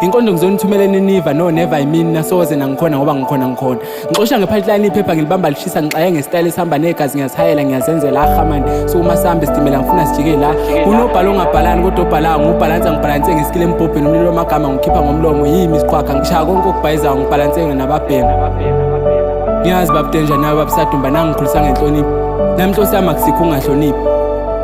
Inkonzo ngizonithumela eNiniva no never I mean nasoze nangikhona ngoba ngikhona ngikhona. Ngixosha ngepipeline iphepha ngilibamba lishisa ngixaye ngestyle esihamba negazi ngiyazihayela ngiyazenzela aha man. So uma sihambe sitimela ngifuna sijike la. Unobhala ongabhalani kodwa obhala ngubhalansa ngibhalanse ngesikile embhobheni umlilo wamagama ngikhipha ngomlomo yimi isiqhwaga ngishaya konke okubhayizayo ngibhalanse nababhema. Ngiyazi babudenja nawe babusadumba nangikhulisa ngenhlonipho. Namhlosi yami akusikho ungahloniphi.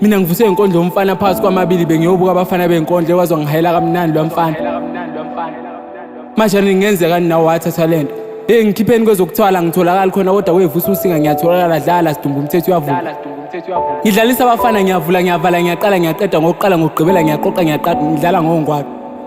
mina ngivuswe inkondlo yomfana phakathi kwamabili bengiyobuka abafana benkondlo ekwazi wangihayela kamnandi lwamfana manje ningenzeka ninawo wathatha le nto eyi ngikhipheni kwezokuthwala ngitholakali khona kodwa wevusa usinga ngiyatholakala dlala sidumba umthetho uyavuma ngidlalisa abafana ngiyavula ngiyavala ngiyaqala ngiyaqeda ngokuqala ngokugqibela ngiyaqoqa ngiyaqada ngidlala ngongwaqa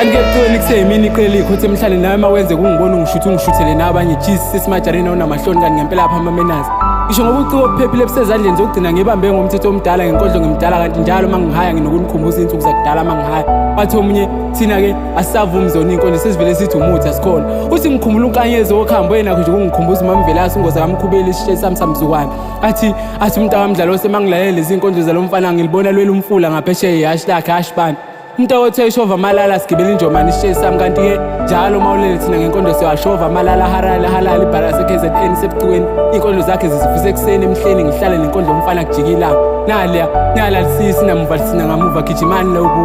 andikekucela ikuse imini iqela ikhothe emhlane nawe uma wenze kungibona ungishuthi ungishuthele nawe abanye jisi sesimajareni awunamahloni kanti ngempela apha amamenazi ngisho ngoba uciko obuphephile busezandleni zokugcina ngibambe ngomthetho omdala ngenkodlo ngimdala kanti njalo uma ngihaya nginokunikhumbuza iy'nsuku zakudala uma ngihaya wathi omunye thina-ke asisavumi zona iy'nkonzo sesivele sithi umuthi asikhona uthi ngikhumbula unkanyezi wokuhambo yenakho nje kungikhumbuza umamvelasi ungoza kamkhubeli isishe sami samzukwane athi athi umntu wamdlalo osemangilalele lezi nkonzo zalo mfana ngilibona lwela umfula ngaphesheya ihashi lakhe hashi bani umntu awothe ishova amalala sigibela injomane isisheyi sami kanti-ke njalo uma ulele thina ngenkonzo siwashova amalala harale halala ibhala sekhe z n sebucikweni iy'nkondlo zakhe zizivisa ekuseni emhleni ngihlale nenkondlo umfana kujikilanga naliya nalalisisi namuva lisina ngamuva gijimani loku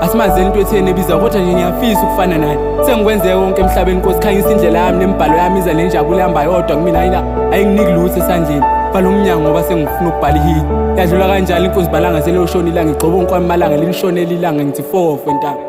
asimazeni into etheni ebiza kodwa nje ngiyafisa ukufana naye sengikwenzeke konke emhlabeni nkosi khanyisa indlela yami nemibhalo yami iza le njabulo ihamba yodwa kumina ayina ayinginiki lutho esandleni bhala umnyango ngoba sengifuna ukubhala ihili yadlula kanjalo inkunzi balanga seloshona ilanga igxoba onkwami malanga lilishonela ilanga ngithi fofe ntanga